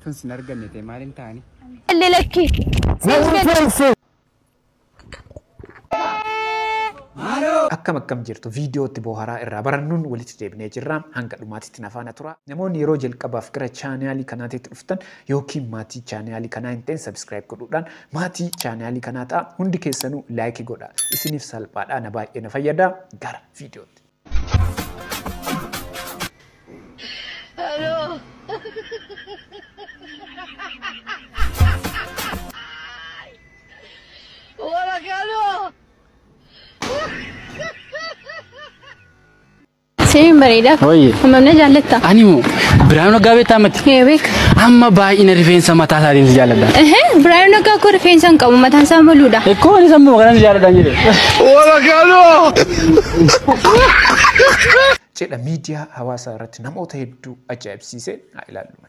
Tun sin arganne ta'e maaliin ta'ani? Illee lakki. Akkam akkam jirtu viidiyootti booharaa irraa barannuun walitti deebinee jirra hanga dhumaatitti nafaana tura. Namoonni yeroo jalqabaaf gara chaanaalii kanaatitti dhuftan yookiin maatii chaanaalii kanaa hin ta'in subscribe godhuudhaan maatii chaanaalii kanaa ta'a. Hundi keessanuu like godha. Isiniif salphaadha na baay'ee na fayyada. Gara viidiyootti. Hello. Hola, Carlos. Sireen bareedaa. Wayye. Hammam na jaallatta? Ani moo Biraanuu Naggaa beektaa mati? Ee beeka. Amma baay'ina rifeensa mataa isaatiin si jaalladha. Ehe, Biraayoo Naggaa koo rifeensa hin qabu mataan isaa maluudha. Ekkoo ani sammuu kanan si jaalladha jedhe. jedha miidiyaa hawaasaa irratti namoota hedduu ajaa'ibsiise haa ilaallu.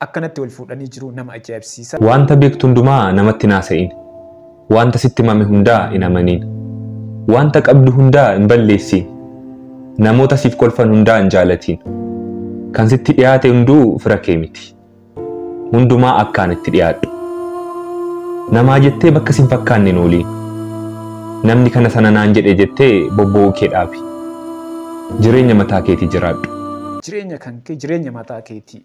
Akkanatti wal fuudhanii jiruu nama ajaa'ibsiisa. Waanta beektu hundumaa namatti hin haasa'iin. Waanta sitti himame hundaa hin amaniin. Waanta qabdu hundaa hin balleessiin. Namoota siif kolfan hundaa hin jaalatiin. Kan sitti dhiyaate hunduu fira kee miti. Hundumaa akkaan itti dhiyaadhu. Namaa jettee bakka sin fakkaanne hin ooliin. Namni kana sana naan jedhe jettee bobboo'uu kee dhaabi. Jireenya mataa keetii jiraadhu. Jireenya kan kee jireenya mataa keetii.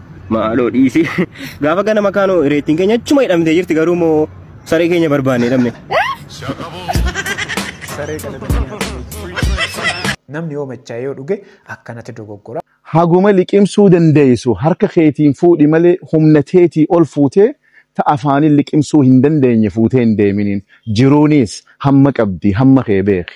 Maaloo dhiisi. Gaafa gana makaanoo reettiin keenya achuma hidhamtee jirti garuu moo saree keenya barbaanne hidhamne. Namni yoo machaa'ee yoo dhuge akkanatti dogoggora. Haguma liqimsuu dandeessu harka keetiin fuudhi malee humna teetii ol fuutee ta afaanin liqimsuu hin dandeenye fuutee hin deeminiin. Jiruuniis hamma qabdi hamma kee beeki.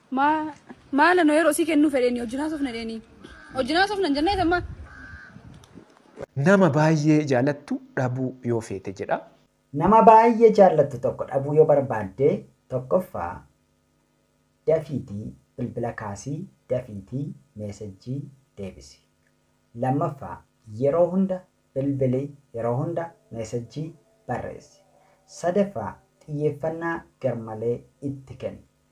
Maa maal ano yeroo sii kennuu fedheeni wajjin haasofna jedheeni. Wajjin haasofna hin jennee sammaa. Nama baay'ee jaalattu dhabuu yoo feete jedha. Nama baay'ee jaallattu tokko dhabuu yoo barbaadde tokkoffaa dafiitii bilbila kaasii dafiitii meesejjii deebisi. Lammaffaa yeroo hunda bilbili yeroo hunda meesejjii barreessi. Sadaffaa xiyyeeffannaa garmalee itti kenni.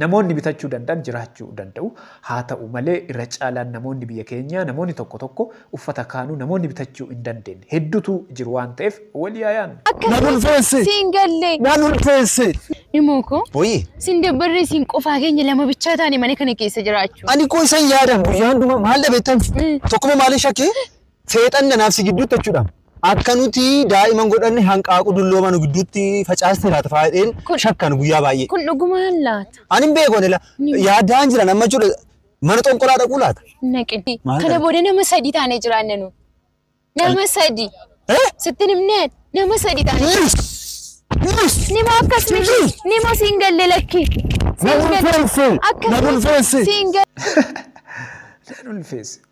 Namoonni bitachuu danda'an jiraachuu danda'u. Haata'u malee irra caalaan namoonni biyya keenyaa namoonni tokko tokko uffata kaanuu namoonni bitachuu hin dandeenne heddutu jiru waan ta'eef walii haa yaadnu. Nan Akkamiin ulfeesse! si hin galle? Nan ulfeesse! Nimoo koo, Woyi! si hin dabbarree siin qofaa keenya lama bichaa taane mana kana keessa jiraachuun? Ani koo isan yaadan guyyaa hundumaa maal dhabeettan? Mm. Tokkuma maalin shakkee? Seexanni anaaf si gidduutti jechuudhaan akka nuti daa'iman godhanne hanqaaquu dulloomaa nu gidduutti facaastee laata faayidheen Kun- shakkan guyyaa baay'ee. Kun dhugumaan laata? Ani hin beeku ani la- Ni- yaadaan jiran amma jechuudha mana xonqolaa dhaquu laata. Naqin. Maal Kana dha? booda nama sadii taanee jiraanna nu. Nama sadii. Eh? Sittin himneen nama sadii taanee. Yes! Yes! Nima akkas miti. Nima siin galle lakki. Na Siin galle. ulfeesse! Akkas Na miti. ulfeesse! Siin galle. Nan ulfeesse.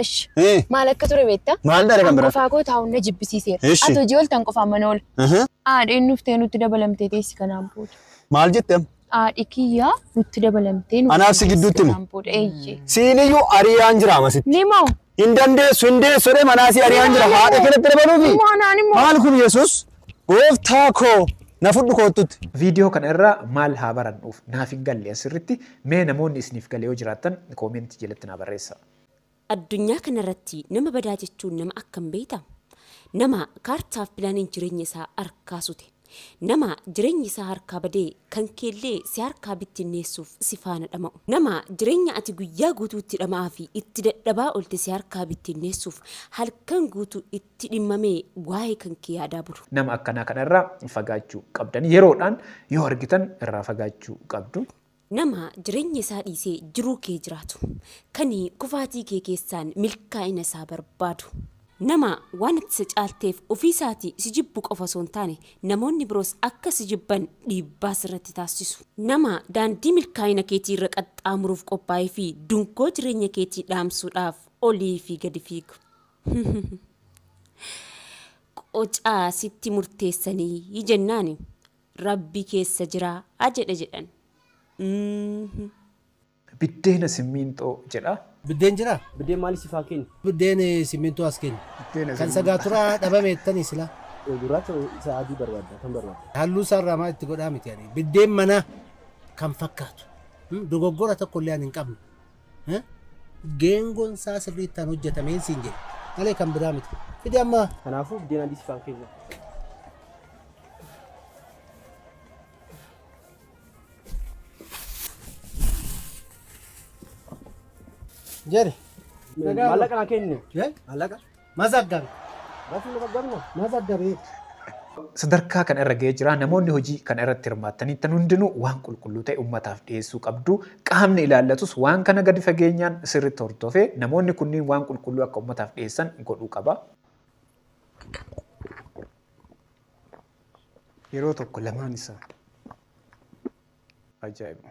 Ish. Hii. Maal akka ture beektaa? Maal dare kan An biraa? qofaa koo taa'uun na jibbisiiseera. Ishi. Ati hojii ooltan qofaan mana oola. Aha. Haadheen dhuftee nutti dabalamtee teessi kanaan booda. Maal jette amma? Haadhi kiyyaa nutti dabalamtee nutti Anaaf si teessi gidduutti himi. kanaan booda. Eeyyee. Siiniyyuu ariyaan jira amasitti. Nimo. Hin dandeessu hin deessu jedhee manaa si ariyaan jira. Haadha kanatti dabaluufi. Nimo anaan immoo. Maal kun Yesuus? Gooftaa koo na fudhu koottutti. Viidiyoo kana irraa maal haa barannuuf naaf hin galle asirratti Mee namoonni isiniif gale yoo jiraattan comment jalatti naa barreessaa. Addunyaa kanarratti nama badaa jechuun nama akkam beekta? Nama kaartaaf pilaaniin jireenya isaa harkaa sute. Nama jireenyi isaa harkaa badee kan keellee si harkaa bittinneessuuf si faana dhama'u. Nama jireenya ati guyyaa guutuu itti dhama'aa fi itti dadhabaa oolte si harkaa bittinneessuuf halkan guutuu itti dhimmamee waa'ee kan kee yaadaa bulu. Nama akkanaa kana irraa fagaachuu qabdan. Yeroodhaan yoo argitan irraa fagaachuu qabdu. Nama jireenya isaa dhiisee jiruu kee jiraatu. Kan kufaatii kee keessaan milkaa'ina isaa barbaadu. Nama waan ati isa caalteef ofii isaatii si jibbu qofa osoo hin taane namoonni biroos akka si jibban dhiibbaa sirratti taasisu. Nama daandii milkaa'ina keetii irra qaxxaamuruuf qophaa'ee fi dungoo jireenya keetii dhaamsuudhaaf olii fi gadi fiigu. Qocaa sitti murteessanii jennaani. Rabbi keessa jira a jedhe jedhan. Umm. Biddeena simmiinxoo jedha. Biddeen jiraa? Biddeen maali sif haa kennu? Biddeen simmiintoo as kenni. Biddeena Kan simmiinxoo. sagaaturaa dhabame jettanii silaa? Gurraacha moo isa adii barbaadda? Kam barbaadda? Halluu isaa irraa maa itti godhaa miti ani. Biddeen manaa kan fakkaatu. Dogoggora tokko illee ani hin qabne. Eh? Geengoon isaa sirriittaan hojjetameen siin jedhe. Malee kan biraa miti. Fidi amma. Kanaafuu biddeen adii sifaan keenya. Jere. Maallaqa naa kenni. Eh? Maallaqa? mazaggabe. Bakki mazaggabi kun mazaggabeetti. Sadarkaa kana irra ga'ee jira. Namoonni hojii kana irratti hirmaattaniittan hundinuu waan qulqulluu ta'e ummataaf dhiyeessuu qabdu. Qaamni ilaallatus waan kana gadi fageenyaan sirriitti hordofee namoonni kunniin waan qulqulluu akka ummataaf dhiyeessan godhuu qaba. Yeroo tokko lamaan isaa. Ajaa'iba.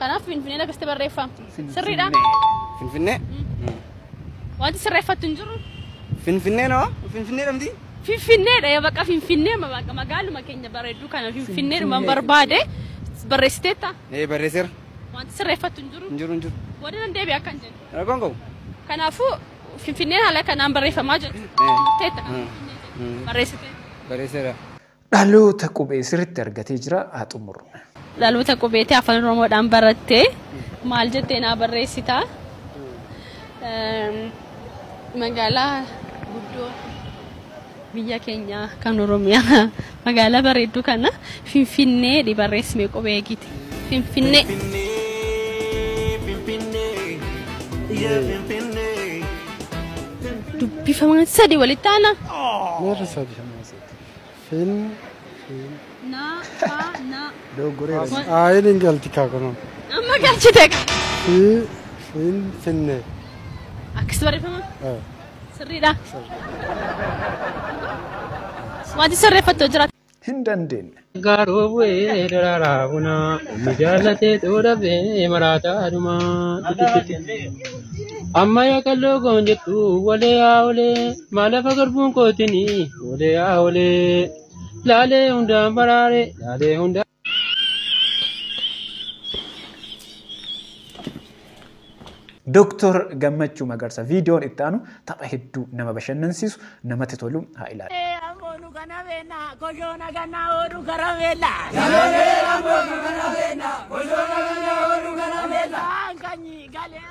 Kanaaf Finfinneen akkasitti barreeffama. Sirriidha. Finfinnee. Wanti sirreeffattu hin jiru. Finfinnee noo? Finfinnee dhamti? Finfinneedha yaa bakka Finfinnee ma- bakka magaaluma keenya bareedduu kana Finfinneedhuma barbaade barreessiteetta. Ee barreesseera. Wanti sirreeffattu hin jiru. Hin jiru hin jiru. Booda nan deebi'a akkan jedhu. Rakkoon qabu. Kanaafuu Finfinneen haala kanaan barreeffamaa jirti. Eh. Murteetta kan Eh. Finfinnee jedhu. Mm. Barreessiteetta. Barreesseera. Dhaloota qubee sirriitti argatee jira haa xumurru. Dhaloota qubeetii afaan Oromoodhaan barattee maal jettee naa barreessitaa? Magaalaa guddoo biyya keenyaa kan Oromiyaa magaalaa bareedduu kana Finfinnee dhi barreessime qubee eegite. Finfinnee. Dubbifamaan sadi walitti aana. Meerri sadi hamaa sadi. Fin. Fin. Na. Fa. Na. Doggoreera. As aayin hin galti kaa kunoo. Amma galchite ka. Fi. Fin. Finne. Akkasi barreeffama? Eh. Sirriidha. Wanti sirreeffattu jira. Hin dandeenye. Gaaroo bu'ee daraaraa bunaa inni jaallatee xoodhabee maraataa dhumaa. Amma yaa qalloo goon jettu walee yaa olee. Maalafa garbuun kootini olee yaa olee laalee hundaan baraare laalee hundaan. Dooktor Gammachuu Magarsa viidiyoon itti aanu tapha hedduu nama bashannansiisu namatti tolu haa ilaalu. Amboonu kana beena koshoona kana oolu kara beela. Amboonu kana beena koshoona kana oolu kara beela. Kanyi galee.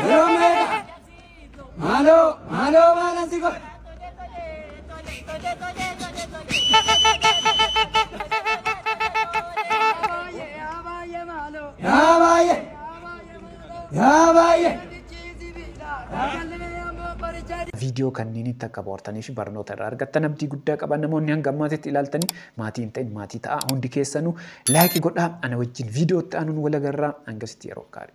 Yeroo meeqa? Maaloo, maaloo maalan si godhe? Yaa baay'ee! Yaa baay'ee! viidiyoo kanneenitti akka bohaartanii fi barnoota irraa argattan abdii guddaa qaba. Namoonni hanga ammaatitti ilaaltanii Maatii hin ta'in maatii ta'aa hundi keessanuu like godhaa ana wajjin video itti aanuun wal agarraa hangasitti yeroo gaarii.